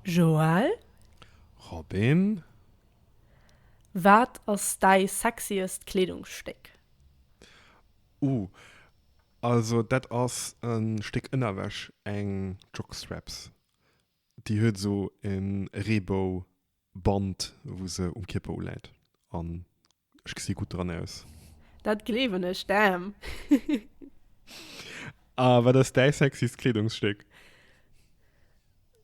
Joël, Robin? Wat ass däi sexiest Kleedungsstéck? Uh, also dat ass e Stéck Ënnerwäsch, eng Jockstraps. Déi huet esou e Reebou-Band, wou se um Kierper uläit. An Ech gesi gutt dran aus. Dat gleewen ech dem. A wat ass däi sexyst Kleedungsstéck?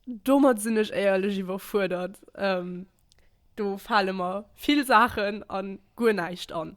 Domat sinn ech éierlech iwwerfuerdert. Do fale mer vill Saachen a guer näischt an.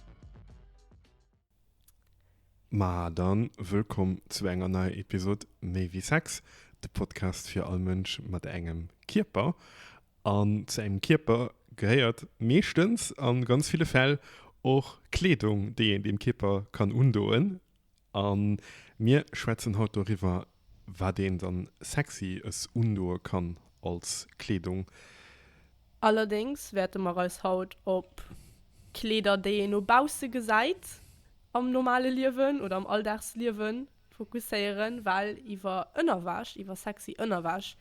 Ma dann, wëllkomm zu enger neier Episod Méi wéi Sex, de Podcast fir all Mënsch mat engem Kierper. An zu engem Kierper gehéiert meeschtens, an ganz ville Fäll, och Kleedung, déi een dem Kierper kann undoen. A mir schwätzen haut doriwwer, wat een dann Sexyes undoe kann als Kleedung. Allerdéngs wäerte mer eis haut op Kleeder, déi een no bausse gesäit am normale Liewen oder am Alldagsliewen, fokusséieren, well iwwer Ënnerwäsch, iwwer sexy Ënnerwäsch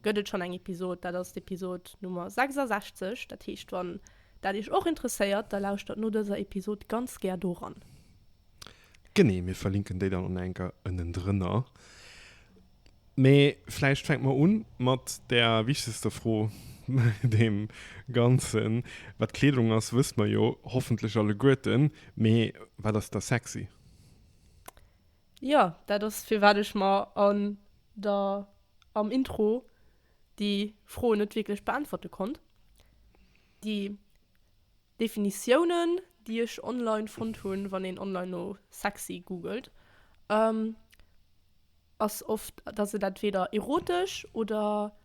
gëtt et schonn eng Episod. Dat ass d'Episod Nummer 66. Dat heescht, wann dat iech och interesséiert, da lauschtert no dëser Episod ganz gär doran. Genee, mir verlinken déi dann och enker ënnendrënner. Mee vläicht fänke mer un mat der wichtegster Fro bei deem Ganzen, Wat Kleedung ass, wësse mer jo hoffentlech alleguerten, mee wat ass da sexy? Jo, dat ass firwat ech mer an der, am Intro déi Fro net wierklech beäntwerte konnt. Déi. Definitiounen déi ech online fonnt hunn, wann een online no sexy googelt, ass oft dass et entweder erotesch oder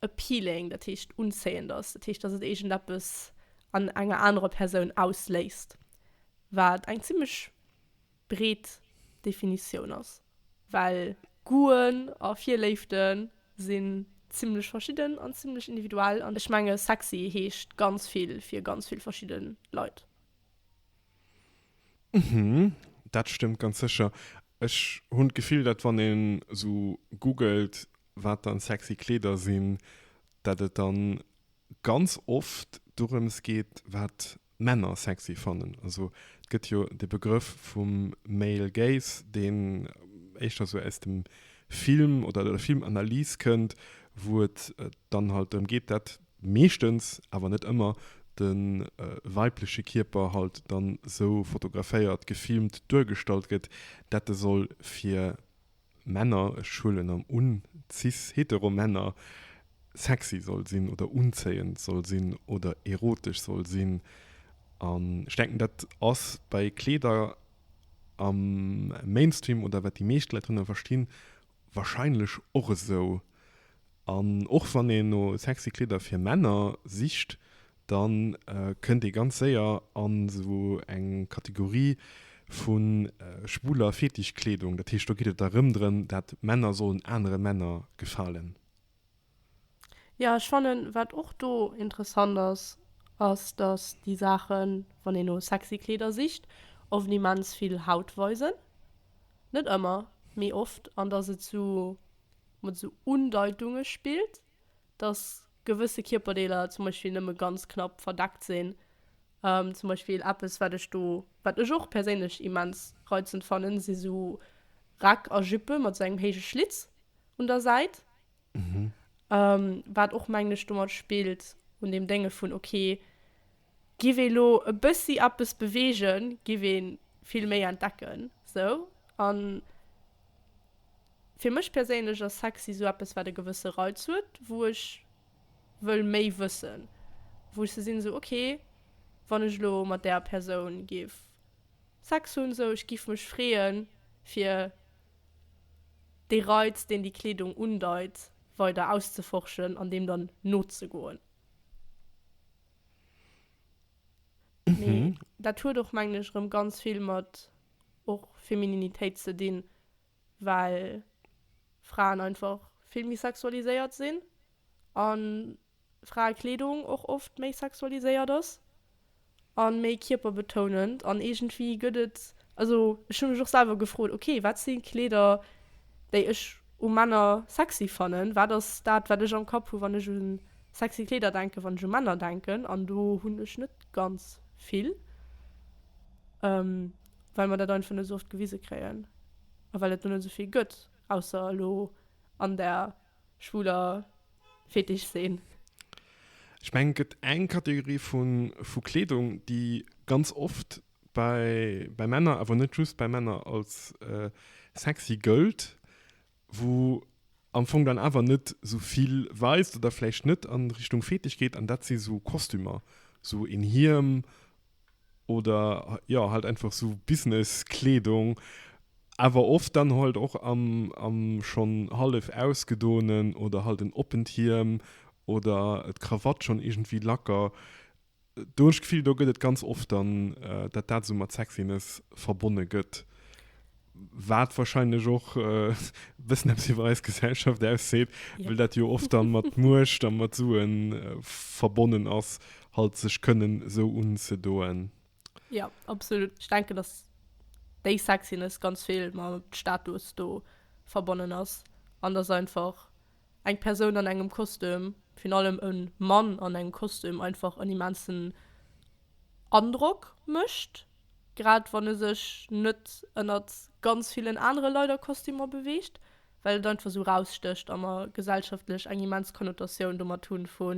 appealing, dat heescht unzéiend ass, dat heescht dass et iergend eppes an enger anerer Persoun ausléist, wat eng zimmlech breet Definitioun ass, well Goûten a Virléifte si zimmlech verschidden an zimmlech individuell an ech menge sexy heescht ganz vill fir ganz vill verschidde Leit. Uhmm, dat stëmmt ganz sécher. Ech hunn d'Gefill, datt wann een esou googelt, wat dann sexy Kleeder sinn, datt et dann ganz oft dorëms geet, wat Männer sexy fannen. Also et gëtt jo de Begrëff vum Male Gaze, deen éischter esou aus dem Film oder der Filmanalys kënnt, wou et dann halt drëm geet, dat meeschtens, awer net ëmmer, de weibleche Kierper halt dann esou fotograféiert, gefilmt, duergestallt gëtt, dat e soll fir Männer, ech huelen am un, cis Heteromänner, sexy soll sinn oder unzéiend soll sinn oder erotesch soll sinn. An ech denken, dat ass bei Kleeder am Mainstream oder wat déi meescht Leit drënner verstinn, wahrscheinlech och esou. An och wann een no sexy Kleeder fir Männer sicht, da kënnt ee ganz séier a sou eng Kategorie vu schwuler Fetischkleedung. Dat heescht, do geet et da rëm drëm, dat Männer sollen anere Männer gefalen. Jo, ech fannen, wat och do interessant ass, ass, datt déi Saachen, wann een no sexy Kleeder sicht, oft immens vill Haut weisen. Net ëmmer, mee oft. An datt et sou mat sou Undeitunge spillt. dass gewësse Kierperdeeler zum Beispill nëmme ganz knapp verdeckt sinn, zum Beispill eppes, wat ech do, wat ech och perséinlech immens reizend fannen, si sou Räck a Jupe mat sou engem héije Schlitz un der Säit, wat och, mengen ech, domat spillt, un deem Dénge vun, okay, Giff ee lo e bëssi eppes bewegen, giff ee vill méi entdecken sou. An fir mech perséinlech ass sexy sou eppes wat e gewësse Reiz huet, wou ech wëll méi wëssen, wou ech sou sinn sou ok wann ech lo mat där Persoun giff Sex hunn sou, ech giff mech freeën fir dee Reiz deen déi Kleedung undeit weider auszeforschen an deem dann nozegoen. Mee mhm. dat huet och mengen ech rëm ganz vill mat och Femininitéit ze dinn, well Fraen einfach vill méi sexualiséiert sinn an Fraekleedung och oft méi sexualiséiert ass an méi kierperbetounend an iergendwéi gëtt et also ech hunn mech och selwer gefrot okay wat sinn Kleeder déi ech u Männer sexy fannen, wat ass dat wat ech am Kapp hu wann ech un Sexy Kleeder denken wann ech u Männer denken an do hunn ech net ganz vill well mer dat einfach net sou oft gewise kréien a well et der net sou vill gëtt ausser elo an der schwuler Fetisch Szen. Ech mengen et gëtt eng Kategorie vu Kleedung déi ganz oft bei Männer, awer net just bei Männer, als sexy gëllt. wou am Fong dann awer net sou vill weist oder vläicht net an Richtung Fetisch geet an dat si sou Kostümer, sou een Hiem oder jo halt einfach sou Business Kleedung, awer oft dann halt och am am schonn hallef ausgedoenen oder halt en oppent Hiem oder d'Krawatt schonn iergendwéi lacker Do hunn ech d'Gefill, do gëtt et ganz oft dann, dat dat esou mat Sexiness verbonne gëtt, wat wahrscheinlech och e bëssen eppes iwwer eis Gesellschaft ausseet, well dat jo oft dann mat Muecht a mat Sue verbonnen ass, halt sech kënnen esou unzedoen. Jo, absolut. Ech denken, dass déi Sexiness ganz vill mat Status do verbonnen ass an dass einfach Eng Persoun an engem Kostüm, virun allem e Mann an engem Kostüm, einfach en immensen Androck mécht, grad wann e sech net ënnert ganz villen anere Leit a Kostümer beweegt, well et einfach esou erausstécht a mer gesellschaftlech eng immens Konnotatioun domat hunn, vu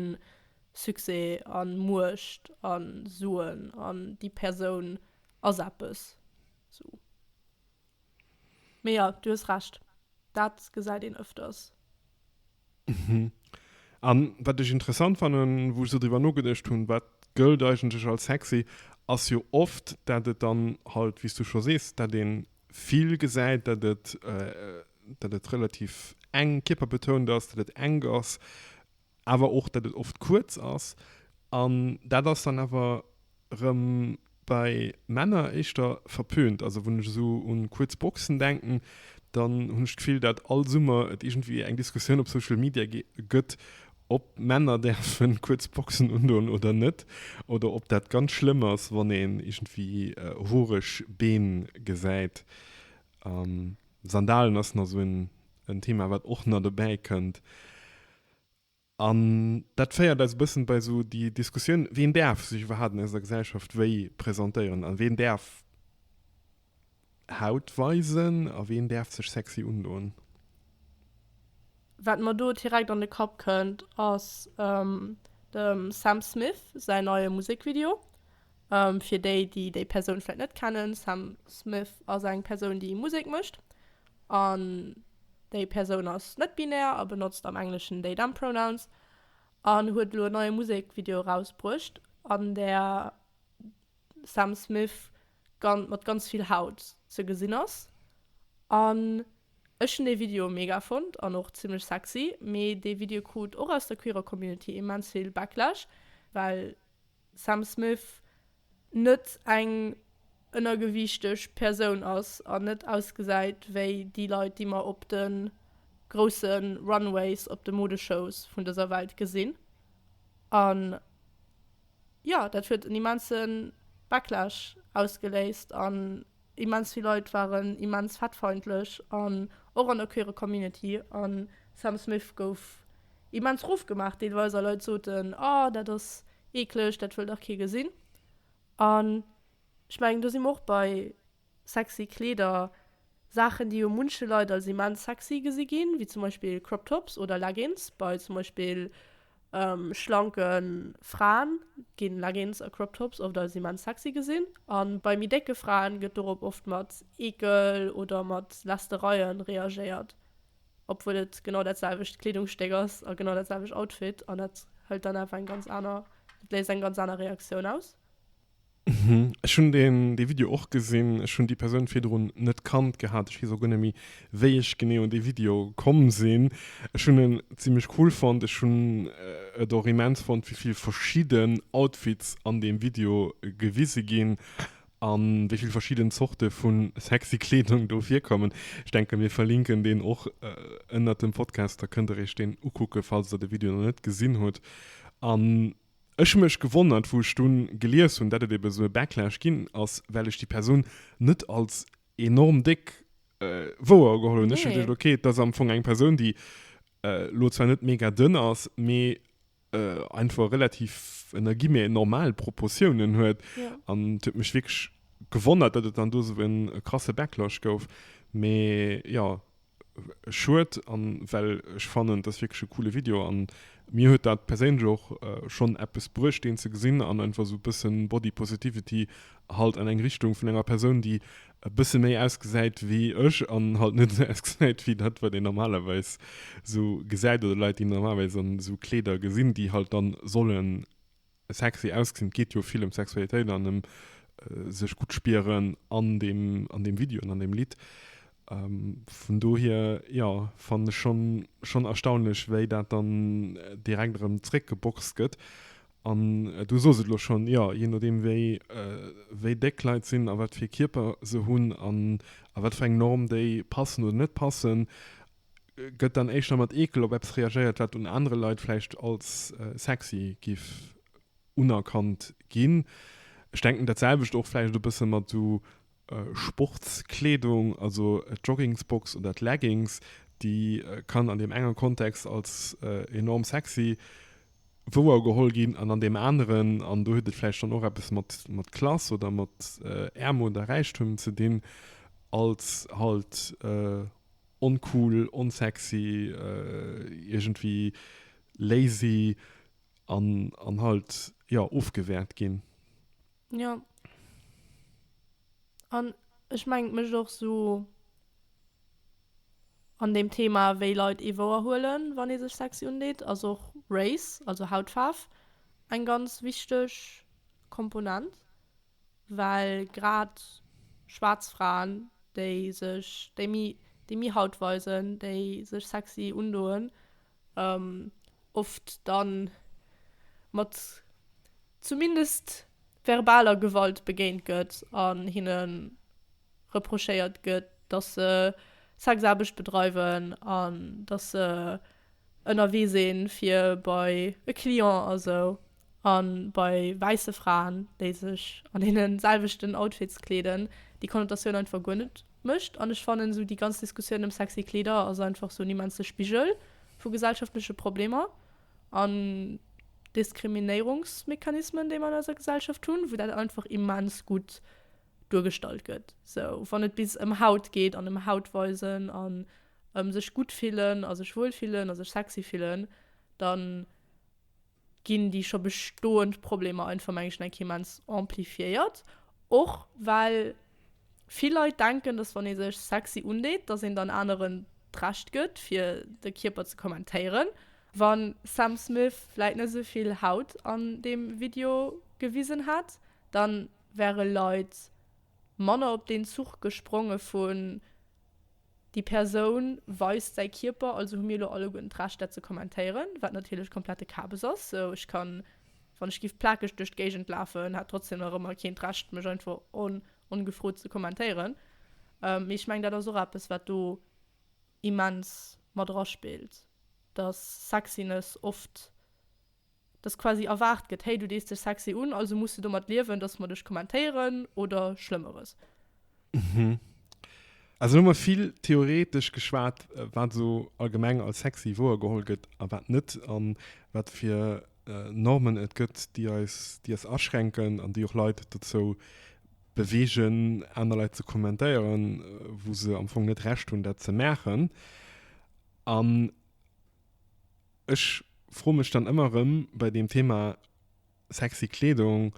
Succès a Muecht a Suen an déi Persoun ass eppes, esou. Mee jo, du hues Recht, dat gesäit een öfters. An wat ech interessant fannen, wou ech sou driwwer nogeduecht hunn, wat gëllt eigentlech als sexy, ass jo oft, dat et dann halt, wéi s du scho sees, dat ee vill gesäit, dat et, dat et relativ enk kierperbetount ass, dat et enk ass. awer och dat et oft kuerz ass an dat ass dann awer rëm bei Männer éischter verpönt. Also wann ech esou un kuerz Boxen denken, dann hunn ech d'Gefill dat all Summer et iergendwéi eng Diskussioun op Social Media gëtt ob Männer däerfen kuerz Boxen undoen oder net oder ob dat ganz schlëmm ass wann een iergendwéi hoereg Been gesäit. Sandalen ass nach esou en Thema wat och nach dobäi kënnt. An dat féiert eis e bëssen bei esou déi Diskussioun, ween däerf sech iwwerhaapt an eiser Gesellschaft wéi presentéieren a ween däerf Haut weisen a ween däerf sech sexy undoen? Wat mer do direkt an de Kapp kënnt ass dem Sam Smith säin neie Musekvideo. Fir déi, déi déi Persoun vläit net kennen, Sam Smith ass eng Persoun, déi Musek mécht an déi Persoun ass net-binär a benotzt am Engleschen they, them pronouns an huet elo en neie Musekvideo erausbruecht, an där Sam Smith gan mat ganz vill Haut ze gesinn ass. An ech hunn dee Video mega fonnt an och zimmlech sexy, mee dee Video krut och aus der queerer Community immens vill Backlash, well Sam Smith net eng ënnergewiichteg Persoun ass an net ausgesäit wéi déi Leit, déi mer op de grousse Runways, op de Modeshows vun dëser Welt gesinn. An jo, dat huet en immense Backlash ausgeléist. Immens vill Leit waren immens fettfeindlech an och an der queere Community an Sam Smith gouf immens ruff gemaach deelweis a Leit soten oh dat ass eeklech, dat wëll dach kee gesinn an ech mengen do si mer och bei sexy Kleeder, Saachen déi u munche Leit als immens sexy gesi ginn, wéi zum Beispill Crop Tops oder Leggings bei zum Beispill Schlanke Fraen ginn Leggings a Crop Tops oft als immens sexy gesinn, an bei méi décke Fraen gëtt dorop oft mat Eekel oder mat Lästereien reagéiert, obwuel et genau dat selwecht Kleedungsstéck ass a genau dat selwecht Outfit, an dat hëlt dann awer eng ganz aner, dat léist eng ganz aner Reaktioun aus. Mhm, ech hunn deen dee Video och gesinn. Ech hunn déi Persoun virdrun net kannt gehat. Ech weess och guer net méi, wéi ech genee un dee Video komm sinn. Ech hunn en zimlech cool fonnt. Ech hunn et och immens fonnt, wéi vill verschidden Outfits an deem Video gewise ginn a wéi vill verschidden Zorte vu sexy Kleedung do virkommen. Ech denken, mir verlinken deen och ënnert dem Podcast. Da kënnt der iech deen ukucke, falls der de Video nach net gesinn hutt. An. Ech hu mech gewonnert wou ech dunn gelies hunn dat et eben esou e Backlash ginn ass well ech déi Persoun net als enorm déck wouergeholl hunn. Ech hunn geduecht ok dat ass am Fong eng Persoun déi lo zwar net mega dënn ass mee einfach relativ ënner Guillemets normal Proportiounen huet an et huet mech wierklech gewonnert dat et dann do esou e krasse Backlash gouf. Mee jo Schued an well ech fannen dass wierklech e coole Video an mir huet dat perséinlech och schonn eppes bruecht deen ze gesinn an einfach esou e bëssen Body Positivity halt an eng Richtung vun enger Persoun déi e bësse méi ausgesäit wéi ech an halt net esou ausgesäit wéi dat wat een normalerweis esou gesäit oder Leit déi normalerweis an esou Kleeder gesinn déi halt dann sollen Sexy ausgesinn, et geet jo vill ëm Sexualitéit an ëm sech gutt spieren an deem, an deem Video an an deem Lidd. Vun dohier, jo, fannen ech schonn, schonn erstaunlech, wéi dat dann direkt erëm zréckgeboxt gëtt. An du soos et elo schonn, jo, jee nodeem wéi, wéi déck d'Leit sinn a wat fir Kierper se hunn an a wat fir eng Norm déi passen oder net passen, gëtt dann éischter mat Eekel op eppes reagéiert, wat un anere Leit vläicht als sexy giff unerkannt ginn. Ech denken dat selwecht och vläicht e bësse mat esou Sportskleedung, also d'Joggingsbox oder d'Leggings, déi kann an deem enger Kontext als enorm sexy wouer geholl ginn an an deem aneren, an do huet et vläicht dann och eppes mat Klass oder mat Äermut a Räichtum ze dinn, als halt Oncool, onsexy, iergendwéi lazy an, an halt, jo, ofgewäert ginn. Jo. An ech mengen, et mécht och sou an deem Thema, wéi Leit ee wouerhuelen, wann ee sech sexy undeet, ass och Race, also Hautfaarf, eng ganz wichteg Komponent. Well grad schwaarz Fraen, déi sech, déi méi, déi méi Haut weisen, déi sech sexy undoen, oft da mat zumindest verbaler Gewalt begéint gëtt an hinne reprochéiert gëtt, dass se Sexaarbecht bedreiwen an dass se ënnerwee sinn, fir bei e Client a sou. A bei wäisse Fraen, déi sech an deene selwechten Outfits kleeden, déi Konnotatioun einfach guer net mécht. An ech fannen esou déi ganz Diskussioun ëm sexy Kleeder ass einfach esou en immense Spigel vu gesellschaftleche Problemer an Diskriminéierungsmechanismen, déi mer an eiser Gesellschaft hunn, wou dat einfach immens gutt duergestallt gëtt, esou wann et bis ëm Haut geet an ëm Haut weisen an ëm sech gutt fillen a sech wuel fillen a sech sexy fillen, dann. ginn déi scho bestoend Problemer einfach meng ech enk immens amplifiéiert, och well vill Leit denken, dass wann ee sech sexy undeet, dass een dann aneren d'Recht gëtt fir de Kierper ze kommentéieren. Wa Sam Smith vläit net esou vill Haut an deem Video gewisen hätt, dann wäre Leit manner op deen Zuch gespronge vu Déi Persoun weist säi Kierper, also hu mir elo alleguerten d'Recht dat ze kommentéieren, wat natierlech komplette Kabes ass. Sou ech kann, wann ech giff plakeg duerch d'Géigend lafen, hätt trotzdem nach ëmmer keen d'Recht mech einfach on ongefrot ze kommentéieren. Mee ech mengen dat ass och eppes wat do immens mat eraspillt, dass Sexiness oft. dass quasi erwaart gëtt, hey, du dees dech sexy un, also muss de domat liewen, dass mer dech kommentéieren oder Schlëmmeres. Also hu mer vill theoretesch geschwat, wat esou allgemeng als sexy wouergeholl gëtt a wat net, a wat fir Normen et gëtt, déi eis, déi eis aschränken an déi och Leit dozou beweegen, aner Leit ze kommentéieren, wou se am Fong net Recht hunn, dat ze maachen. An. Ech froe mech dann ëmmer erëm bei deem Thema sexy Kleedung,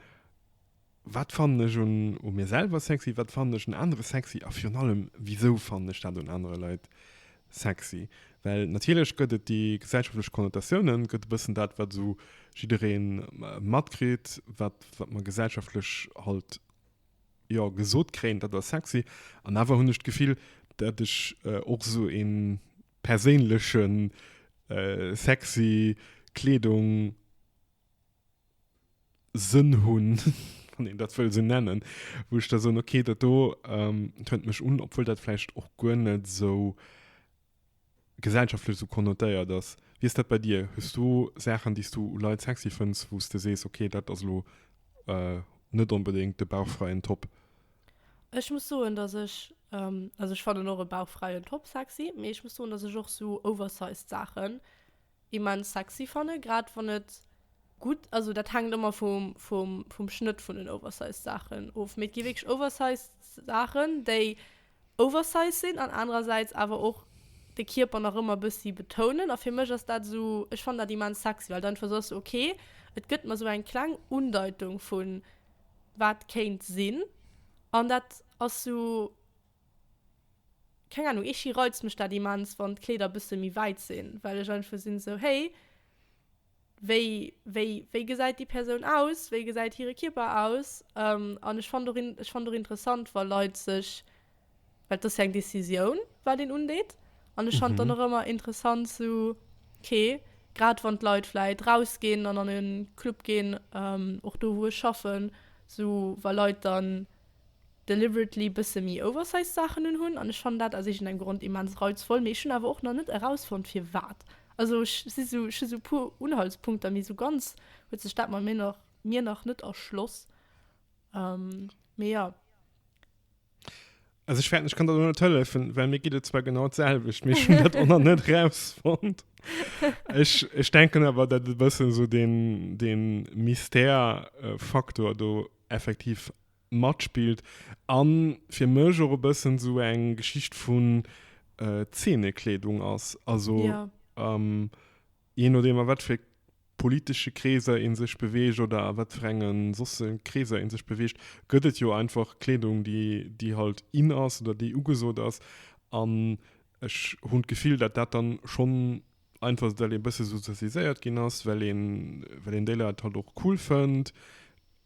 Wat fannen ech un u mir selwer sexy? Wat fannen ech un anere sexy? A virun allem, wisou fannen ech dat un anere Leit sexy? Well natierlech gëtt et déi gesellschaftlech Connotatiounen, gëtt e bëssen dat, wat esou jidderee matkritt, wat mer gesellschaftlech halt, jo, gesot kréien, dat ass sexy. An awer hunn ech d'Gefill, dat ech och esou een, perséinlechen sexy Kleedung Sënn hunn, wann een dat wëll esou nennen, wou ech da soen, okay, dat do tönt mech un, obwuel dat vläicht och guer net esou gesellschaftlech esou konnotéiert ass. Wéi ass dat bei dir? Hues du Saachen, déi s du u Leit sexy fënns, wou s de sees, okay, dat ass elo net onbedéngt de bauchfräien Top? Ech muss soen dass ech, also ech fannen och e bauchfräien Top sexy, mee ech muss soen dass ech och sou oversized Saachen immens sexy fannen, grad wann et gutt, also dat hänkt ëmmer vum vum vum Schnëtt vun den oversized Saachen of, mee et gi wierklech oversized Saachen déi oversized sinn an anerersäits awer och de Kierper nach ëmmer bëssi betounen a fir mech ass dat sou, ech fannen dat immens sexy well dann einfach sou ass sou okay et gëtt mer sou eng kleng Undeitung vun wat kéint sinn, an dat ass sou, keng Ahnung, iergdi reizt mech dat immens, wann d'Kleeder bësse méi wäit sinn, well ech einfach sinn esou, hey, wéi, wéi, wéi gesäit déi Persoun aus, wéi gesäit hire Kierper aus? An ech fand och, ech fand och interessant, wa Leit sech Well et ass jo eng Decisioun, wat een undeet. An ech fand dann och ëmmer interessant so, okay, grad wann d'Leit vläicht rausginn an an e Club ginn, och do wou ech schaffen, so wa Leit dann deliberately bësse méi oversized Saachen unhunn. An ech fannen dat aus iergendengem Grond immens reizvoll, mee ech hunn awer och nach net erausfonnt firwat. Also ech si sou, ech hu sou e puer Unhaltspunkter, mee sou ganz huet sech dat mer mir nach net erschloss. Mee jo. Also ich, ich kann da nicht helfen, weil mir geht es zwar genau dasselbe, mir schon das auch noch nicht rausfand. Ich, ich denke aber, dass ein bisschen so den, den Mystère-Faktor da effektiv mitspielt. Und für mich auch ein bisschen so eine Geschichte von äh, Zähnekleidung ist. Also, ja. ähm, Jee nodeem a wat fir politesche Kreeser ee sech beweegt oder a wat fir enge sosse Kreeser ee sech beweegt, gëtt et jo einfach Kleedung, déi, déi halt in ass oder déi ugesot ass. An ech hunn d'Gefill, datt dat dann schonn einfach ass, well ee bësse sozialiséiert ginn ass, well een, well een déi Leit halt och cool fënnt,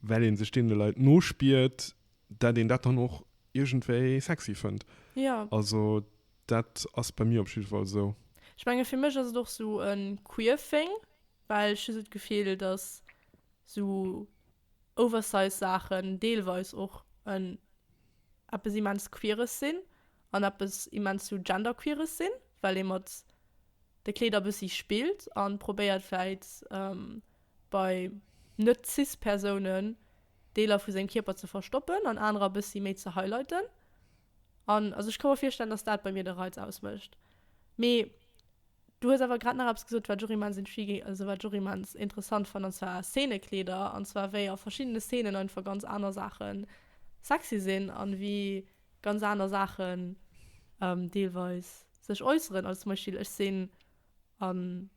well ee sech deene Leit nospiert. dat een dat dann och iergendwéi sexy fënnt. Jo. Also dat ass bei mir op jidde Fall esou. Ech menge fir mech ass et och esou e queer thing, well ech hu esou d'Gefill, datt esou oversize Saachen deelweis och en eppes immens queeres sinn an eppes immens esou genderqueeres sinn, well ee mat de Kleeder e bëssi spillt a probéiert vläit bei net-cis-Persounen Deeler vu sengem Kierper ze verstoppen an anerer e bëssi méi ze highlighten. An also ech ka mer virstellen, datt dat bei mir de Reiz ausmécht. Mee du hues awer grad nach eppes gesot, wat ech och immens intriguing, also wat ech och immens interessant fannen, an zwar Szenekleeder, an zwar wéi a verschiddene Szenen einfach ganz aner Saache sexy sinn an wéi ganz aner Saachen deelweis sech äusseren. Also zum Beispill ech sinn an.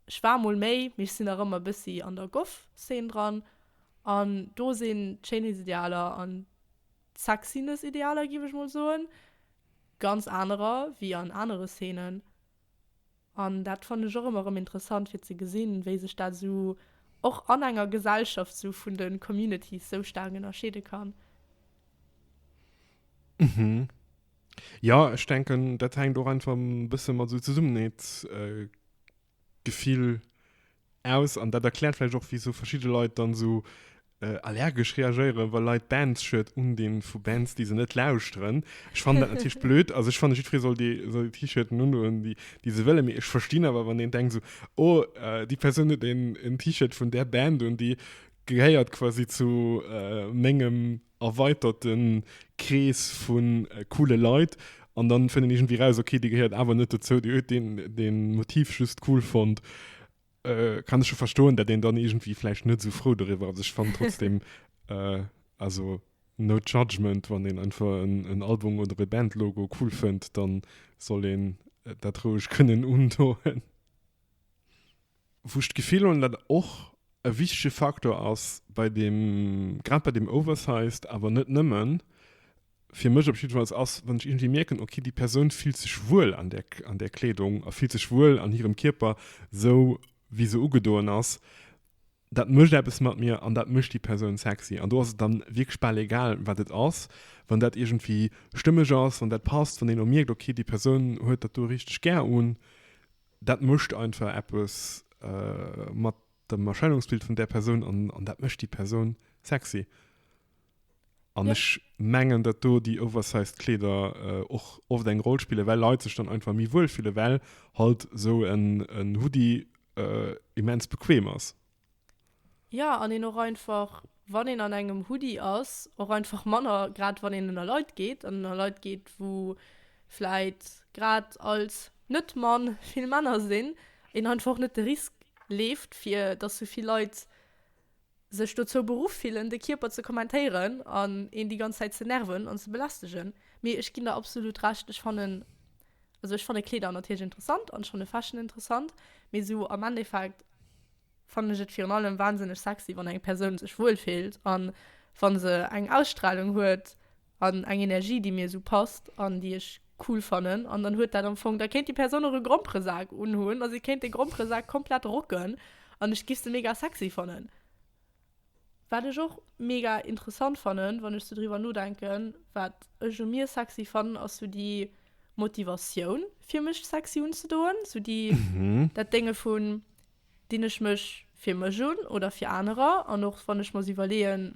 Ech war mol méi, mee ech sinn nach ëmmer e bëssi an der Goth-Szene dran. An do sinn d'Schéinheetsidealer an d'Sexiness-Idealer, giff ech mol soen, ganz anerer wéi an anere Szenen. An dat fannen ech och ëmmer erëm interessant fir ze gesinn, wéi sech dat esou och an enger Gesellschaft esou vun de Communities esou staark ënnerscheede kann. Ja, ech denken dat hänkt och einfach e bësse mat esou Zesummenheetsgefill aus an dat erkläert vläicht och wisou verschidde Leit dann esou allergesch reagéieren, wa Leit Bands-Shirt undinn vu Bands, déi se net lauschteren. Ech fannen dat natierlech blöd, also ech fanne jiddweree soll déi soll déi T-Shirten undoen, déi déi se wëllen, mee ech verstinn awer, wann een denkt esou, oh, déi Persoun huet een T-Shirt vun där Band un, déi gehéiert quasi zu mengem erweiterten Krees vun coole Leit an dann fënnt een iergendwéi raus ok dee gehéiert awer net dozou, dee huet deen deen Motiv just cool fonnt. Kann ech scho verstoen dat een dann iergendwéi vläicht net esou frou doriwwer ass. Ech fannen trotzdem also no judgement wann een einfach en Album oder e Bandlogo cool fënnt dann soll een dat roueg kënnen undoen. wou ech d'Gefill hunn, datt och e wichtege Faktor ass bei deem, grad bei deem Oversized, awer net nëmmen, fir mech op jiddefalls, ass, wann ech iergendwéi mierken, ok, déi Persoun fillt sech wuel an där, an där Kleedung a fillt sech wuel an hirem Kierper, sou wéi se ugedoen ass. Dat mécht eppes mat mir an dat mécht déi Persoun sexy. An do ass et dann wierklech bal egal, wat et ass, wann dat iergendwéi stëmmeg ass, wann dat passt, wann een elo mierkt, ok, déi Persoun huet dat do richteg gär un. Dat mécht einfach eppes mat dem Erscheinungsbild vun där Persoun an, an dat mécht déi Persoun sexy. An ja. ech mengen, dat do déi oversized Kleeder äh, och oft eng Roll spielen, well Leit sech dann einfach méi wuel fille well halt so en, en Hoodie äh, immens bequem ass. Ja, an een och einfach, wann een an engem Hoodie ass, och einfach manner, grad wann een ënner Leit geet an ënner Leit geet, wou vläit grad als Net-Mann vill Männer sinn, een einfach och net de Risk leeft, fir datt sou vill Leit sech dozou beruff fillen, de Kierper ze kommentéieren an een déi ganz Zäit ze nerven an ze belästegen. Mee ech ginn der absolut Recht, ech fannen Also ech fanne Kleeder natierlech interessant an schonne Fashion interessant, mee sou am Endeffekt fannen ech et virun allem wahnsinneg sexy wann eng Persoun sech wuel fillt an wann se eng Ausstrahlung huet an eng Energie déi mir sou passt an déi ech cool fannen an dann huet dat am Fong, da kéint déi Persoun och e Gromperesak unhunn a se kéint de Gromperesak komplett rocken an ech giff se mega sexy fannen. Wat ech och mega interessant fannen, wann ech sou driwwer nodenken, wat ech u mir sexy fannen, ass sou déi Motivatioun, fir mech sexy unzedoen. Sou déi, dat Dénge vun, dinn ech mech fir mech un oder fir anerer? An och wann ech mer iwwerleeën,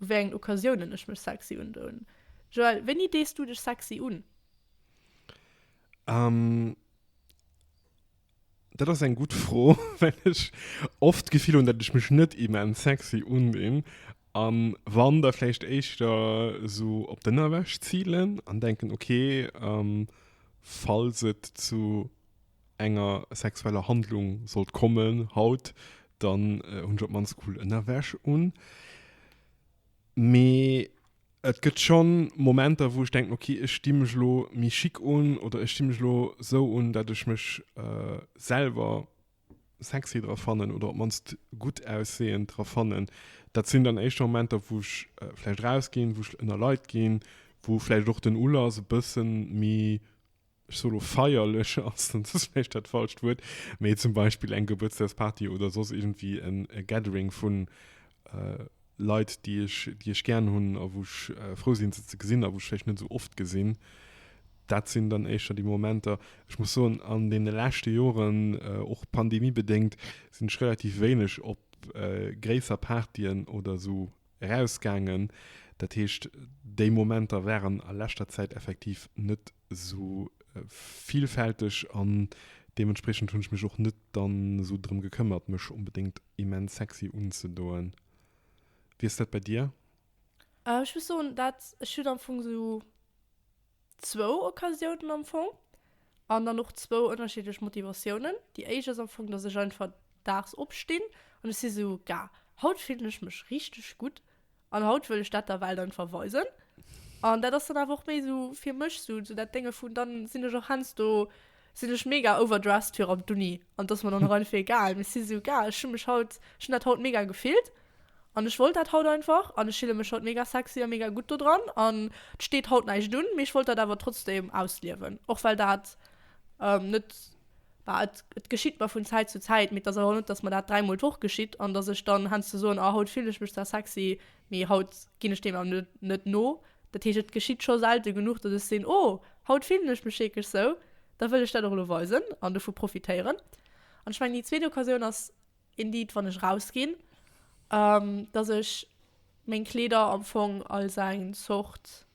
u wéi engen Occasiounen ech mech sexy undoen. Joël, wéini dees du dech sexy un? Dat ass eng gutt Fro, well ech oft d'Gefill hunn, datt ech mech net immens sexy undinn a wann, da vläicht éischter esou op d'Ënnerwäsch zilen an denken, okay, falls et zu enger sexueller Handlung sollt kommen haut, dann hunn ech op d'mannst cool Ënnerwäsch un. Mee Et gëtt schonn Momenter, wou ech denken, ok, ech sti mech elo méi chic un oder ech sti mech elo esou un, datt ech mech selwer sexy dra fannen oder op d'mannst gutt ausseeënd dra fannen. Dat sinn dann éischter Momenter, wou ech vläicht erausginn, wou ech ënner Leit ginn, wou vläicht och den Ulass e bësse méi. ech soe lo feierlech, ass dann soss vläicht dat falscht Wuert, mee zum Beispill eng Gebuertsdagsparty oder soss iergendwéi en Gathering vu Leit, déi ech, déi ech gären hunn a wou ech frou sinn, se ze gesinn a wou ech vläicht net esou oft gesinn. Dat sinn dann éischter déi Momenter. Ech muss soen, an deene leschte Joren, och pandemiebedéngt, sinn ech relativ wéineg op gréisser Partyen oder esou erausgaangen. Dat heescht, déi Momenter waren a leschter Zäit effektiv net Esou villfälteg an deementspriechend hunn ech mech och net dann esou drëm gekëmmert mech onbedéngt immens sexy unzedoen. Wéi ass dat bei dir? Ech muss soen dat ech hunn am Fong esou zwou Occasiounen am Fong an dann och zwou ënnerschiddlech Motivatiounen. Déi éischt ass am Fong, datt ech einfach daags opstinn an ech si esou, Gah, haut fillen ech mech richteg gutt An haut wëll ech dat da well dann verweisen. An dat ass dann awer och méi esou fir mech esou esou dat Dénge vun, dann sinn ech och heiansdo, sinn ech mega overdressed fir an d'Uni. An et ass mer dann och einfach egal. Mee et si esou, Gars, ech hu mech haut, ech hunn dat haut mega gefillt an ech wollt dat haut einfach an ech fille mech haut mega sexy a mega gutt dodran. An et steet haut näischt un, mee ech wollt dat awer trotzdeem ausliewen, och well dat net. bah, et, et geschitt mer vun Zäit zu Zäit, mee et ass awer net, datt mer dat dräimol d'Woch geschitt an datt ech dann heiansdo soen, oh haut fillen ech mech zwar sexy, mee haut ginn ech deem awer net no. Dat heescht, et geschitt scho selte genuch, datt ech seeën, oh haut fillen ech mech wierklech sou, da wëll ech dat och elo weisen an dovu profitéieren. An ech mengen, déi zweet Occasioun ass indeed, wann ech rausginn, datt ech meng Kleeder am Fong als eng Zort.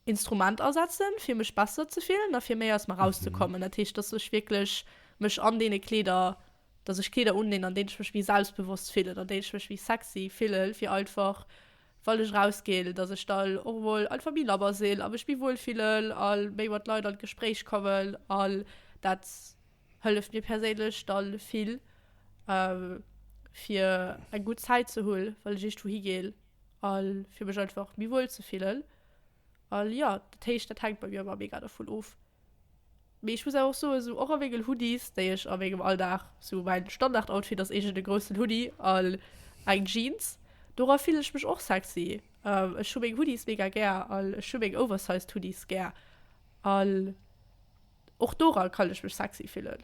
Instrument asetzen fir mech besser ze fillen a fir méi aus mer raus ze kommen. Dat heescht dass ech wierklech mech an deene Kleeder, dass ech Kleeder undinn an deenen ech mech méi selbstbewosst fillen, an deenen ech mech méi sexy fillen fir einfach wann ech rausginn, dass ech dann och emol einfach méi labber sinn a mech méi wuel fillen a méi mat Leit an d'Gespréich kommen an dat hëlleft mir perséinlech da vill fir eng gutt Zäit ze hunn wann ech iergendwou higinn a fir mech einfach méi wuel ze fillen. A jo, dat heescht, dat hänkt bei mir ëmmer mega dovun of. Mee ech muss awer och soen, esou och a mengen Hoodies, déi ech a mengem Alldag, esou mäin Standardoutfit ass eegent e groussen Hoodie an eng Jeans, dora fillen ech mech och sexy. Ech hu meng Hoodies mega gär an ech hu meng oversized Hoodies gär an och dora kann ech mech sexy fillen.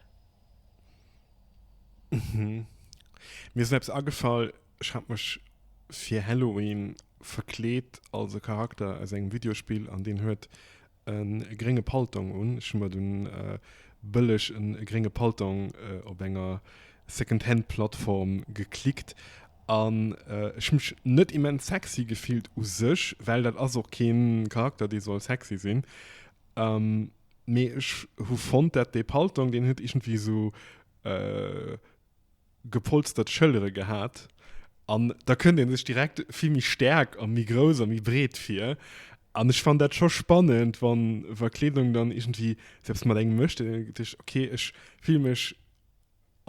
Mir ass eppes agefall. Ech hat mech fir Halloween verkleet als e Charakter aus engem Videospill an deen huet e grénge Paltong un. Ech hu mer dunn bëlleg e grénge Paltong op enger Secondhand-Plattform geklickt an ech hu mech net immens sexy gefillt u sech, well dat ass och kee Charakter, dee soll sexy sinn. Mee ech hu fonnt, dat dee Paltong, deen huet iergendwéi esou gepolstert Schëllere gehat, an da kënnt ee sech direkt vill méi staark a méi grouss a méi breet vir. An ech fannen dat scho spannend, wann, wa Kleedung dann iergendwéi selbst mat engem mécht, deen denkt sech, ok, ech fille mech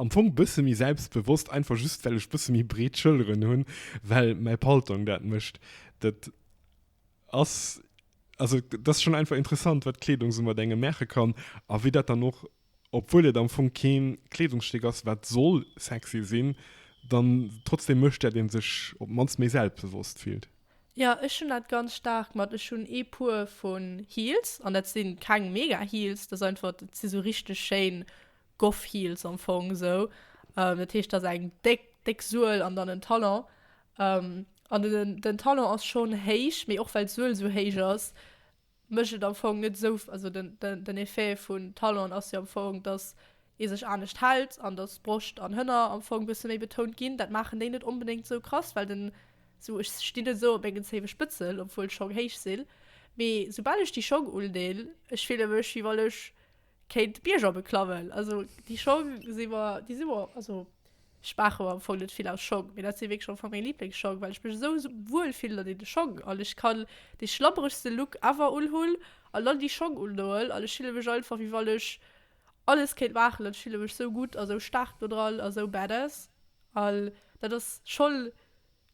am Fong bësse méi selbstbewosst, einfach just well ech bësse méi breet Schëlleren hunn, well mäi Paltong dat mécht. Dat ass, also dat ass schonn einfach interessant, wat Kleedung esou mat engem maache kann a wéi dat dann och Obwuel et am Fong keen Kleedungsstéck ass wat soll sexy sinn, dann trotzdem mécht dat een sech op d'mannst méi selbstbewosst fillt. Jo ech hunn dat ganz staark mat, ech hunn ee puer vun Heels an dat sinn keng mega Heels, dat ass einfach, dat sinn sou richteg schéin Goth Heels am Fong esou, dat heescht dat ass eng déck déck Suel an dann en Talon an den den Talon ass schonn héich mee och well d'Suel sou héich ass, mécht et am Fong net esou, also den, den, den Effet vun Talon ass jo am Fong, datt ee sech anescht hält an datt Broscht an Hënner am Fong bësse méi betount ginn. Dat maachen déi net onbedéngt esou krass, well den, esou ech stinn net esou op mengen Zéiwespëtzel, obwuel Schong héich sinn, mee soubal ech déi Schong undeen, ech fille mech wéi wann ech, Kéint d'Bierger beklawen. Also déi Schong si mer, déi si mer, also ech maache mer am Fong net vill aus Schong, mee dat si wierklech am Fong meng Liblingsschong, well ech mech esou wuel fillen an deene Schong an ech kann dee schlabberegste Look ever unhunn an dann déi Schong undoen an ech fille mech einfach, wéi wann ech alles kéint maachen an ech fille mech sou gutt a sou staark do dran a sou badass an dat ass schonn.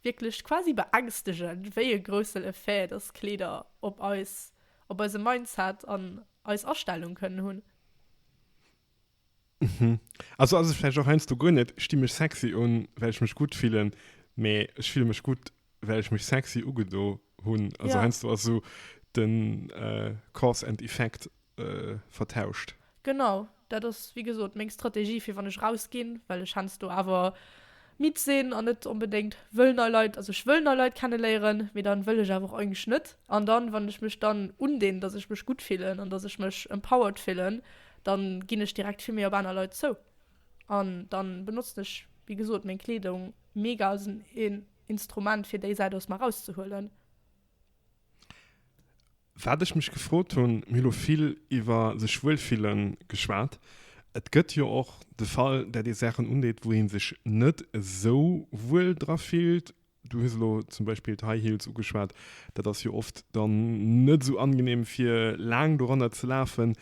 Wierklech quasi beängstegend, wéi e groussen Effet dass Kleeder op eis, op eise Mindset an eis Astellung kënnen hunn. Mhm. Also ass ech vläicht och heiansdo guer net, ech di mech sexy un, well ech mech gutt fillen, mä ech fille mech gutt, well ech mech sexy ugedo hunn. Also Ja. heiansdo ass esou den Cause and Effect vertauscht. Genau, dat ass wéi gesot meng Strategie fir wann ech raus ginn, well ech hensdo awer midd sinn an net onbedéngt wëll nei Leit, also ech wëll nei Leit kenneléieren, mee dann wëll ech awer och eigentlech net. An dann wann ech mech dann undinn, dass ech mech gutt fillen an dass ech mech empowered fillen, dann ginn ech direkt vill méi op aner Leit zou an dann benotzen ech wéi gesot meng Kleedung mega als en Instrument fir déi Säit aus mer rauszehuelen. Wat ech mech gefrot hunn, mir hu lo vill iwwer sech wuelfille geschwat, et gëtt jo och de Fall, dat ee Saachen undeet, wou ee sech net esou wuel dra fillt. Du hues elo zum Beispill d'High Heels ugeschwat, dat ass jo oft dann net esou angenehm, fir laang doranner ze lafen.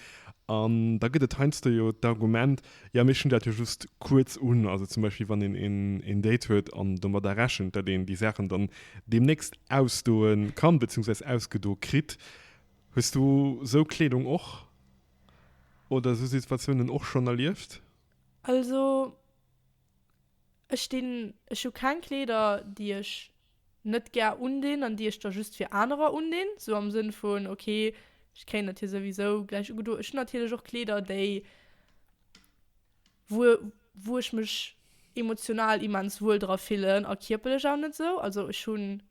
An da gëtt et heiansdo jo d'Argument, Jo, mee ech hunn dat jo just kuerz un. Also zum Beispill, wann een een Date huet an domadder rechent, datt een déi Saachen dann deemnächst ausdoe kann, beziehungsweise ausgedo kritt. Hues du esou Kleedung och oder esou Situatiounen och schonn erlieft? Also. Ech dinn, ech hu keng Kleeder déi ech net gär undinn an déi ech da just fir anerer undinn, sou am Sënn vun ok ech kréien dat hir souwisou gläich ugedo. Ech hunn natierlech och Kleeder déi wou wou ech mech emotional immens wuel dra fillen a kierperlech och net esou, also ech hunn.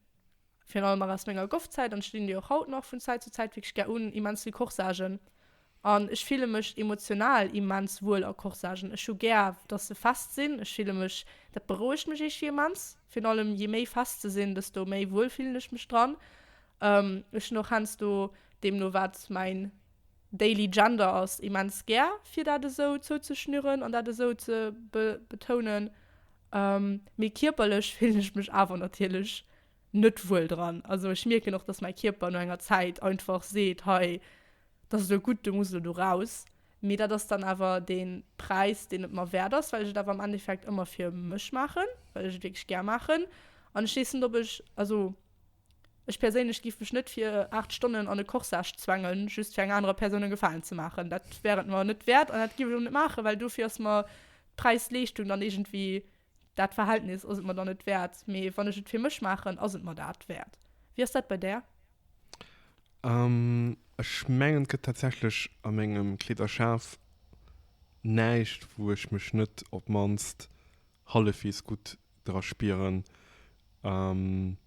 Virun allem nach aus menger Goff-Zäit, an ech linn déi och haut nach vun Zäit zu Zäit wierklech gär un, immens vill Corsagen. An ech fille mech emotional immens wuel a Corsagen. Ech hu gär, dass se fest sinn. Ech fille mech, dat berouegt mech eeschtfir immens. Virun allem, je méi fest se sinn, desto méi wuel fillen ech mech dran. Ech hunn och heiansdo, deemno wat mäin daily gender ass, immens gär fir dat esou zouzeschnüren an dat esou ze betounen. Mee kierperlech fillen ech mech awer natierlech net wuel dran. Also ech mierken och, datt mäi Kierper no enger Zäit einfach seet, hei, dat ass elo gutt, du muss elo do raus. Mee dat ass dann awer dee Präis, deen et mer wäert ass, well ech et awer am Endeffekt ëmmer fir mech maachen, well ech et wierklech gär maachen. An ech weess net, ob ech, also. Ech perséinlech giff mech net fir 8 Stonnen an e Corsage zwengen, just fir enger anerer Persoun en Gefalen ze maachen. Dat wär et mer net wäert an dat giff ech och net maachen, well dofir ass mer d'Präis-Leeschtung dann iergendwéi, dat Verhältnis ass et mer dann net wäert. Mee wann ech et fir mech maachen, ass et mer dat wäert. Wéi ass dat bei där? Ech mengen, et gëtt tatsächlech a mengem Kleederschaf näischt, wou ech mech net op d'mannst hallefwegs gutt dra spieren. Ähm,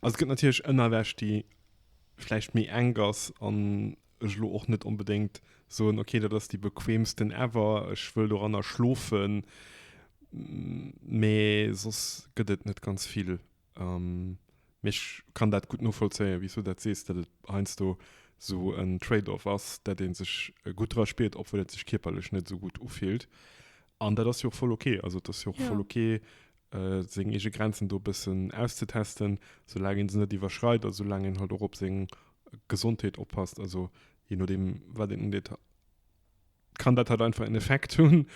also gëtt natierlech ënnerwäsch, déi vläicht méi enk ass an ech lo och net onbedéngt soen, okay, dat ass déi bequeemsten ever, ech wëll doranner schlofen. Mee soss gëtt et net ganz vill. Ähm, mee ech kann dat gutt novollzéien, wéi s du dat sees, datt et heiansdo esou en Trade-off ass, datt ee sech gutt dra spiert, obwuel et sech kierperlech net esou gutt ufillt. An dat ass jo och voll ok. Also et ass jo och ja. voll ok, seng eege Grenzen do bëssen auszetesten, soulaang een se net iwwerschreit a soulaang een halt och op seng Gesondheet oppasst. Also je no dem wat een deet kann dat halt einfach en Effekt hunn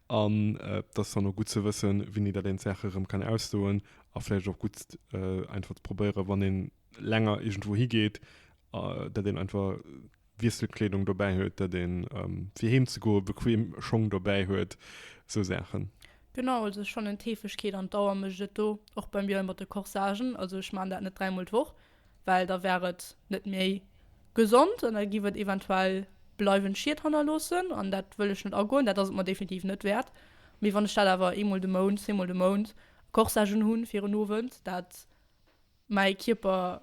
an äh, dat dann och gut ze wëssen, wien ee dat een Sache rëm kann ausdoen a vläicht och gut äh, einfach ze probéiere wann een länger irgendwo higeet, äh, dat een einfach Wiesselkleedung dobäi huet, datt ee fir heem ze goe bequem Schong dobäi huet, esou Saachen. Genau, also ech fannen d'Heefegkeet an d'Dauer mécht et do, och bei mir mat de Corsagen. Also ech maachen dat net dräimol d'Woch, well da wär et net méi gesond an da giff et eventuell bleiwend Schied hannerloossen an dat wëll ech net agoen, dat ass et mer definitiv net wäert. Mee wann ech dat awer eemol de Mount, zweemol de Mount Corsagen hunn fir en Owend, dat mäi Kierper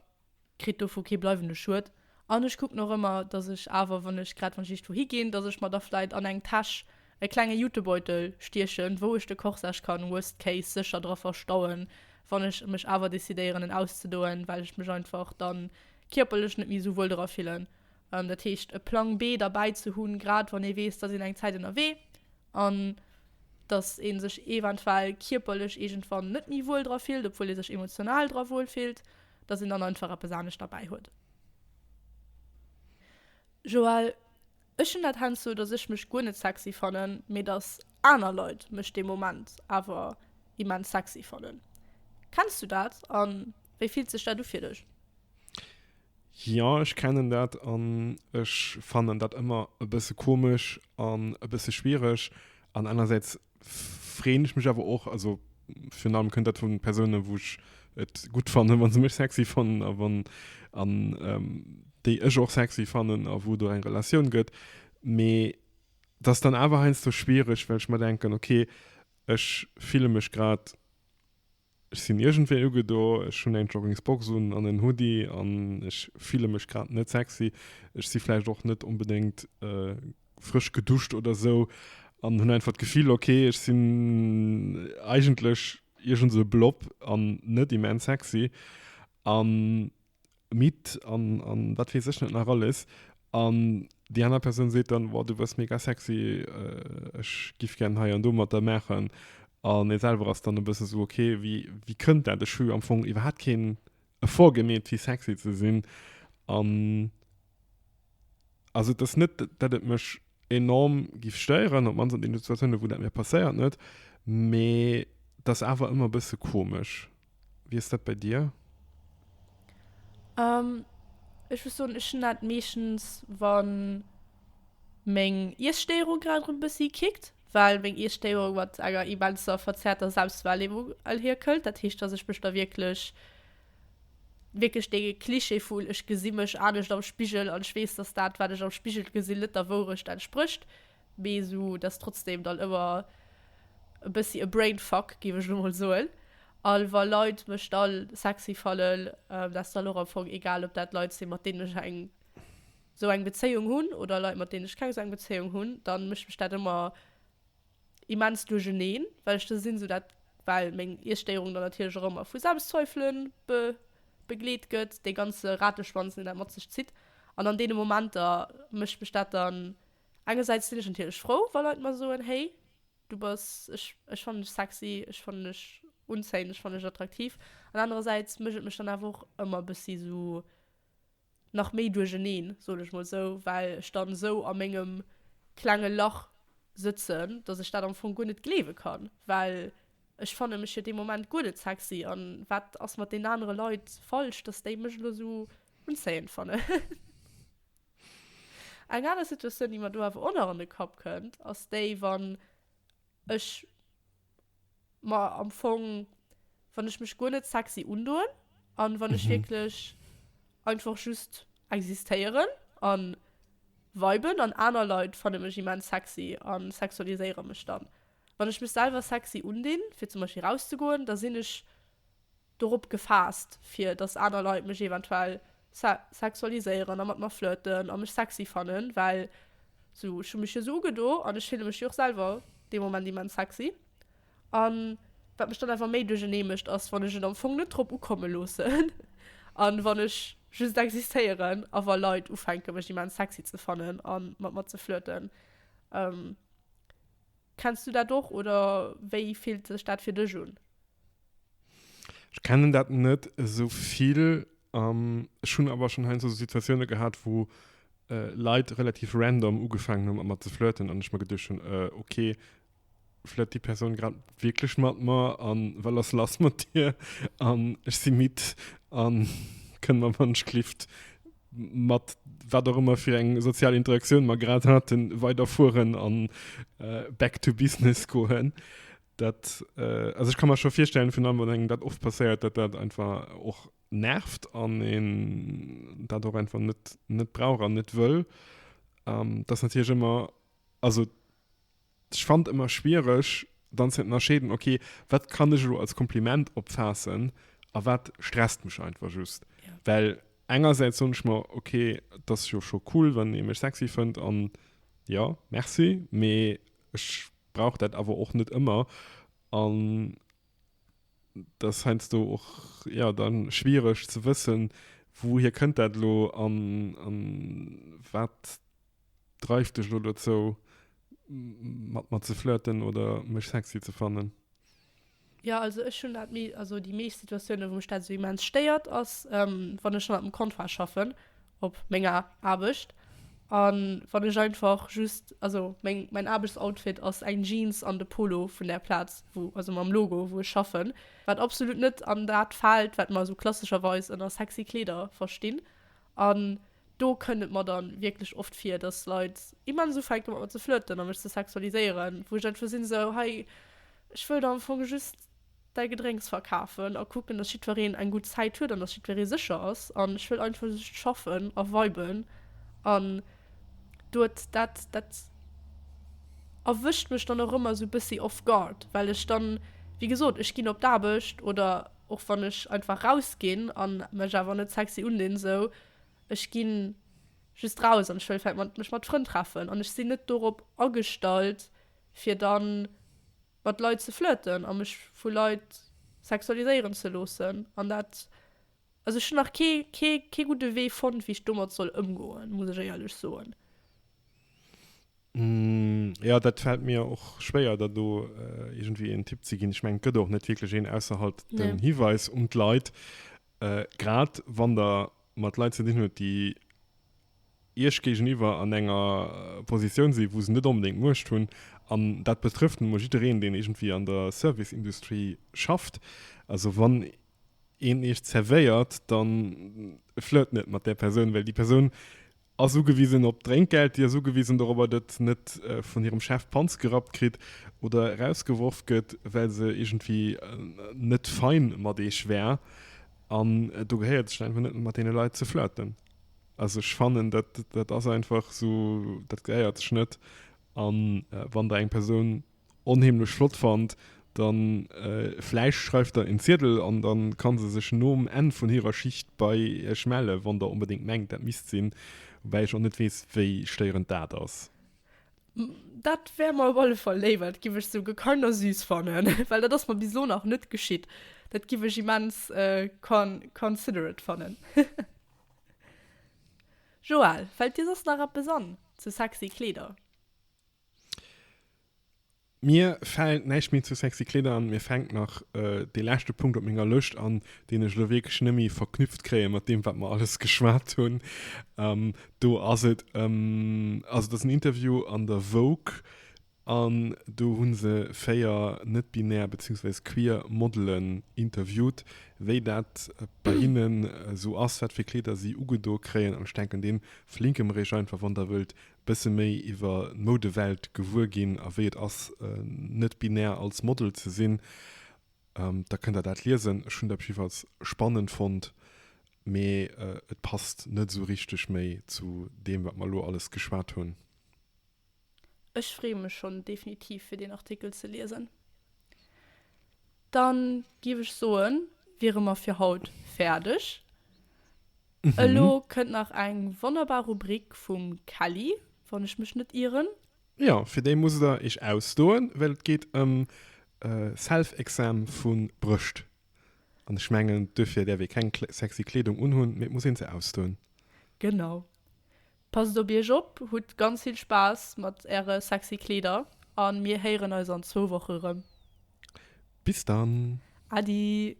kritt dovu kee bleiwende Schued an ech kucken och ëmmer, datt ech awer, wann ech grad wann ech iergendwou higinn, datt ech mer da vläit an eng Täsch e klenge Jutebeutel stiechen, wou ech de Corsage kann worst case sécher dra verstauen, wann ech mech awer decidéieren en auszedoen, well ech mech einfach da kierperlech net méi esou wuel dra fillen. Dat heescht e Plang B derbäi ze hunn, grad wann ee weess, datt een eng Zäit ënnerwee an datt ee sech eventuell kierperlech iergendwann net méi wuel dra fillt, obwuel ee sech emotional dra wuel fillt. dass een dann einfach eppes anescht derbäi huet. Joël, Ech hunn dat heiansdo, dass ech mech guer net sexy fannen, mee dass aner Leit mech dee Moment awer immens sexy fannen. Kenns du dat an wéi fillt sech dat u fir dech? Jean, Jo, ech kennen dat an ech fannen dat ëmmer e bësse komesch an e bësse schwiereg an anersäits freen ech mech awer och also fir allem kënnt dat vun Persounen wou ech et gut fannen wann se mech sexy fannen a wann an ähm, déi ech och sexy fannen a wou do eng Relatioun gëtt mee dass dann awer heinsdo schwiereg well ech mer denken okay ech fille mech grad Ech sinn iergendwéi ugedo, ech hunn eng Joggingsbox un an en Hoodie an ech fille mech grad net sexy. Ech si vläicht och net onbedéngt frësch geduscht oder esou an hunn einfach d'Gefill, ok, ech sinn eigentlech iergend esou e Blob an net immens sexy. An Midd an, an wat weess ech net nach alles. An déi aner Persoun seet dann, Wow, du wëss mega sexy, ech giff gären hei an do mat der maachen. An ee selwer ass dann e bësse sou, Ok, wéi, wéi kënnt dat? Ech hu jo am Fong iwwerhaapt keen Effort gemeet, fir sexy ze sinn. An. Also et ass net, datt et mech enorm géif stéieren, op d'mannst an deenen Situatiounen, wou dat mir passéiert, net. Mee et ass awer ëmmer e bësse komesch. Wéi ass dat bei dir? Ech muss soen, ech hunn dat meeschtens, wa meng Iesstéierung grad erëm e bëssi kickt. Well meng Iesstéierung mat enger immenser verzerrter Selbstwahrnehmung erhirkëllt. Dat heescht, datt ech mech da wierklech wierklech dee Cliché vu ech gesi mech anescht am Spigel an ech weess, dass dat, wat ech am Spigel gesinn, net der Wourecht entsprécht, mee esou dass trotzdeem dann ëmmer e bëssi e Brainfuck, géif ech elo mol soen, a wa Leit mech da sexy fannen, da ass dann och am Fong egal, ob dat Leit sinn, mat deenen ech eng esou eng Bezéiung hunn oder Leit, mat deenen ech keng esou eng Bezéiung hunn, da mécht mech dat ëmmer. immens duercherneen, well ech sinn esou dat, well meng Iesstéierung dann natierlech och ëmmer vu Selbstzweifele be begleet gëtt, dee ganze Rateschwanz, deen dat mat sech zitt. An an deene Momenter mécht mech dat dann, engersäits sinn ech natierlech frou, wa Leit mer soen, Hey, du bass, ech, ech fannen dech sexy, ech fannen dech unzéiend, ech fannen dech attraktiv. An anerersäits mécht et mech dann awer och ëmmer e bëssi esou. nach méi duercheneen, soen ech mol esou, well ech dann esou a mengem klenge Lach sëtzen, dass ech dat am Fong guer net gleewe kann, well ech fanne mech jo dee Moment guer net sexy an wat ass mat deenen anere Leit falsch, dass déi mech elo esou unzéiend fannen. Eng aner Situatioun, déi mer do awer och nach an de Kapp kënnt, ass déi, wann ech. Ma am Fong, wann ech mech guer net sexy undoen an wann ech wierklech einfach just existéieren an viben an aner Leit fanne mech immens sexy an sexualiséiere mech dann. Wann ech mech selwer sexy undinn fir zum Beispill rauszegoen, da sinn ech dorop gefaasst, fir datt aner Leit mech eventuell sexualiséieren a mat mer flirten a mech sexy fannen, well sou, ech hu mech jo sou ugedo an ech fille mech jo och selwer dee Moment immens sexy. An wat mech dann awer méi duerchernee mécht, ass, wann ech et am Fong net drop ukomme loossen an wann ech just existéieren a wa Leit ufänke mech immens sexy ze fannen a mat mer ze flirten. Kenns du dat och oder wéi fillt sech dat fir dech un? Ech kennen dat net esou vill. Ech hunn awer schonn heiansdo esou Situatioune gehat, wou Leit relativ random ugefaangen hu mat mer ze flirten an ech mer geduecht hunn, ok, flirt déi Persoun grad wierklech mat mer a well ass lass mat dir an ech si midd a kënn mer wann ech glifft mat wat och ëmmer fir eng sozial Interaktioun mer grad haten, weiderfueren a back to business goen. Dat, also ech ka mer scho virstellen, virun allem wann engem dat oft passéiert, datt dat einfach och nervt an een dat och einfach net brauch an net wëll. Dat ass natierlech ëmmer, also Ech fannen ëmmer schwiereg dann ze ënnerscheeden, ok, wat kann ech elo als Kompliment opfaassen a wat stresst mech einfach just. Well engersäits soen ech mer, ok, et ass jo scho cool, wann ee mech sexy fënnt an jo, merci, mee ech brauch dat awer och net ëmmer an et ass heiansdo och jo da schwiereg ze wëssen, wouhier kënnt dat elo an wat dreift dech lo dozou mat mer ze flirten oder mech sexy ze fannen? Jo, also ech hunn dat, also déi meescht Situatiounen, wou mech dat esou immens stéiert, ass wann ech mat dem Contrat schaffen op menger Aarbecht an wann ech einfach just, also meng, mäin Aarbechtsoutfit ass eng Jeans an de Polo vun där Plaz wou, also mam Logo wou ech schaffen, wat absolut net an dat fält wat mer esou klassescherweis ënner sexy Kleeder verstinn. An do kënnt et mer dann wierklech oft vir, dass Leit immens ufänke mat mer ze flirten a mech ze sexualiséieren, wou ech einfach sinn esou, hei ech wëll der am Fong just däi Gedrénks verkafen a kucken, dass jiddwereen eng gutt Zäit huet an dass jiddweree sécher ass an ech wëll einfach just schaffen a viben an doet dat. Dat erwëscht mech dann och ëmmer esou e bëssi off guard, well ech dann, wéi gesot, ech ginn op d'Aarbecht oder. Och wann ech einfach raus ginn an mech awer net sexy undinn, esou ech ginn just raus an ech wëll vläit mat mech mat Frënn treffen an ech sinn net dorop agestallt fir dann mat Leit ze flirten a mech vu Leit sexualiséieren ze loossen an dat also ech hunn nach kee kee kee gudde Wee fonnt wéi ech domat soll ëmgoen, muss ech éierlech soen. Mmh, jo, dat fällt mir och schwéier, da do äh, irgendwie en Tipp ze ginn. Ech meng, gëtt och net wirklich een ausser halt nee. den Hiweis um d'Leit. Äh, grad wann der mat Leit ze dinn huet, déi Iech géigeniwwer an enger äh, Positioun si, wou se net unbedingt Muecht hunn, an dat betrëfft nun mol jiddereen, deen irgendwie an der Serviceindustrie schafft. Also wann een Iech zervéiert, dann flirt net mat der Persoun, well déi Persoun ass ugewisen op Drénkgeld, déi ass ugewisen dorobber, datt net vun hirem Chef d'Panz gerappt kritt oder erausgeworf gëtt, well se iergendwéi net fein mat Eech wär. An do gehéiert et sech einfach net mat deene Leit ze flirten. Also ech fannen, dat, dat ass einfach esou, dat gehéiert sech net. A wann Der eng Persoun onheemlech flott fand, dann vläicht schreift der en Ziedel an dann kann se sech nom Enn vun hirer Schicht bei iech mellen, wann der onbedéngt mengt dat misst sinn, woubäi ech och net weess wéi stéierend dat ass. Dat wär mer op alle Fall léiwer, dat giff ech sou gekannt a süß fannen, well dat ass mer bis elo nach net geschitt. Dat giff ech immens considerate fannen. Joël, fällt dir soss nach eppes an zu sexy Kleeder? Mir fällt näischt méi zu sexy Kleeder an. Mir fänkt nach dee leschte Punkt op menger Lëscht an, deen ech elo wierklech net méi verknüpft kréien mat deem, wat mer alles geschwat hunn. Do ass et ëm, also et ass en Interview an der Vogue an do hu se véier net-binär beziehungsweise queer Modelen interviewt, wéi dat bei hinnen esou ass, wat fir Kleeder si ugedo kréien. An ech denken, dee verlinke mer iech einfach, wann der wëllt Bësse méi iwwer d'Moudewelt gewuer ginn a wéi et ass, net-binär als Model ze sinn, da kënnt Der dat liesen. Ech hunn dat jiddefalls spannend fonnt, mee et passt net esou richteg méi zu deem, wat mer elo alles geschwat hunn. Ech freeë mech schonn definitiv, fir deen Artikel ze liesen. Da géif ech soen, wiere mer fir haut fäerdeg. Elo kënnt nach eng wonnerbar Rubrik vum Kelly, wann ech mech net ieren. Jo, fir déi musst der iech ausdoen, well et geet ëm Self-Exam vu Brëscht. An ech mengen, duerfir däerf ee keng sexy Kleedung unhunn, mee et muss een se ausdoen. Genau. Passt op iech op, hutt ganz vill Spaass mat äre sexy Kleeder a mir héieren eis an zwou Woche rëm. Bis dann! Adi!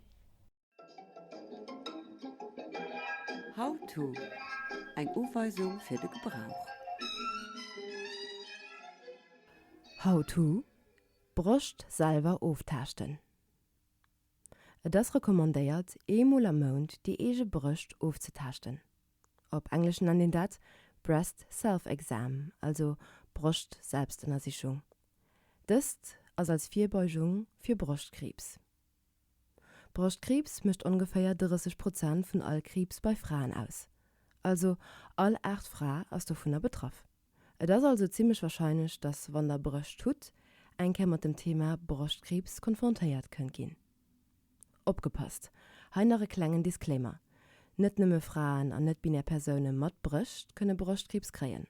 How to, Eng Uweisung fir de Gebrauch. How to, Broscht selwer oftaaschten. Et ass recommandéiert ee mol am Mount déi eege Brëscht ofzetaaschten. Op Englesche nennt een dat Breast Self-Exam, also Broscht-Selbstënnersichung. Dëst ass als Virbeugung fir Broschtkriibs. Broschtkriibs mécht ongeféier 30 Prozent vun all Kriibs bei Fraen aus. Also all aacht Fra ass dovunner betraff. Et ass also zimmlech warscheinlech, dass wann der Brëscht hutt, eng Kéier mat dem Thema Broschtkriibs konfrontéiert kënnt ginn. Opgepasst, hei nach e klengen Disclaimer, Net nëmme Fraen an net-binär Persoune mat Brëscht kënne Broschtkriibs kréien.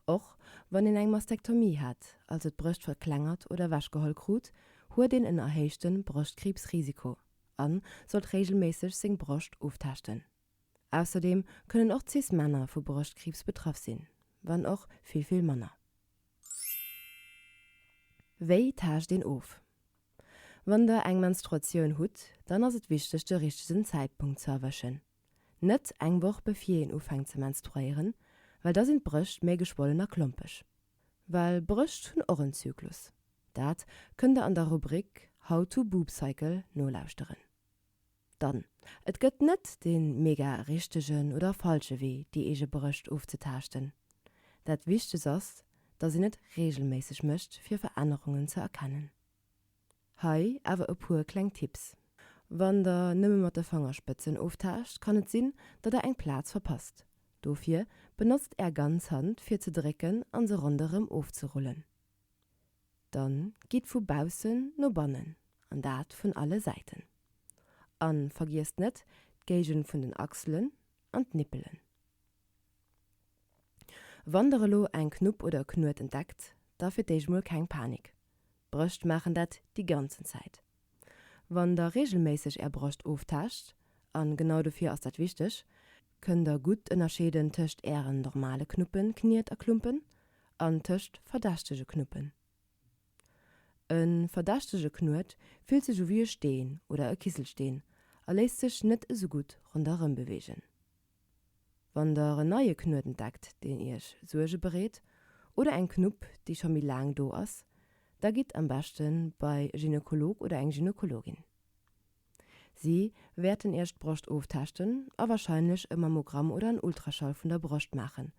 Och wann een eng Mastektomie hat, also d'Brëscht verklengert oder ewechgeholl krut, huet een en erhéichte Broschtkriibsrisiko a sollt reegelméisseg seng Broscht oftaaschten. Ausserdeem kënnen och Cis-Männer vu Broschtkriibs betraff sinn, wann och vill, vill manner. Wéi taascht een of? Wann der eng Menstruatioun hutt, dann ass et wichteg de richtegen Zäitpunkt ze erwëschen. Net eng Woch bevir een ufänkt ze menstruéieren, well da sinn d'Brëscht méi geschwollen a klompeg. Well Brëscht hunn och en Zyklus. Dat kënnt der an der Rubrik How to Boob Cycle nolauschteren. Dann, et gëtt net de mega richtegen oder falsche Wee déi eege Brëscht ofzetaaschten. Dat wichtegst ass, dass een et reegelméisseg mécht fir Verännerungen ze erkennen. Hei awer e puer kleng Tipps. Wann der nëmme mat de Fangerspëtzen oftaascht, kann et sinn, datt der eng Plaz verpasst. Dofir benotzt är ganz Hand fir ze drécken an se ronderëm ofzerullen. Dann gitt vu baussen no bannen, an dat vun alle Säiten. An vergiesst net d'Géigend vun den Achselen an d'Nippelen. Wann der elo eng Knupp oder e Knuet entdeckt, da fir d'éischt mol keng Panik. Brëscht maachen dat déi ganzen Zäit. Wann der reegelméisseg är Broscht oftaascht, a genau dofir ass dat wichteg, kënnt der gutt ënnerscheeden tëscht ären normale Knuppen, Kniet a Klumpen an tëscht verdächtege Knuppen. E verdächtege Knuet fillt sech u wéi e Steen oder e Kisselsteen a léisst sech net esou gutt ronderëm beweegen. Wann der en neie Knuet entdeckt, deen iech Suerge bereet, oder eng Knupp, déi scho méi laang do ass, da gitt am beschte bei e Gynekolog oder eng Gynekologin. Si wäerten iech d'Broscht oftaaschten a warscheinlech e Mammogramm oder en Ultraschall vun der Broscht maachen.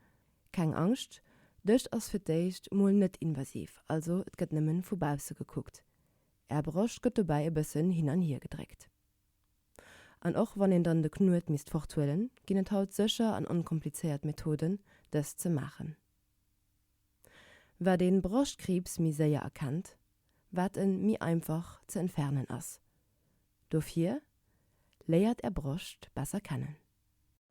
Keng Angscht, d'ESCH ass fir d'éischt mol net invasiv, also et gëtt nëmmen vu bausse gekuckt. Är Broscht gëtt dobäi e bëssen hin an hier gedréckt. An och wann een dann de Knuet misst forthuelen, ginn et haut sécher an onkomplizéiert Methoden, dëst ze maachen. Wat een Broschtkriibs méi séier erkennt, wat en méi einfach ze entfernen ass. Dofir, léiert är Broscht besser kennen.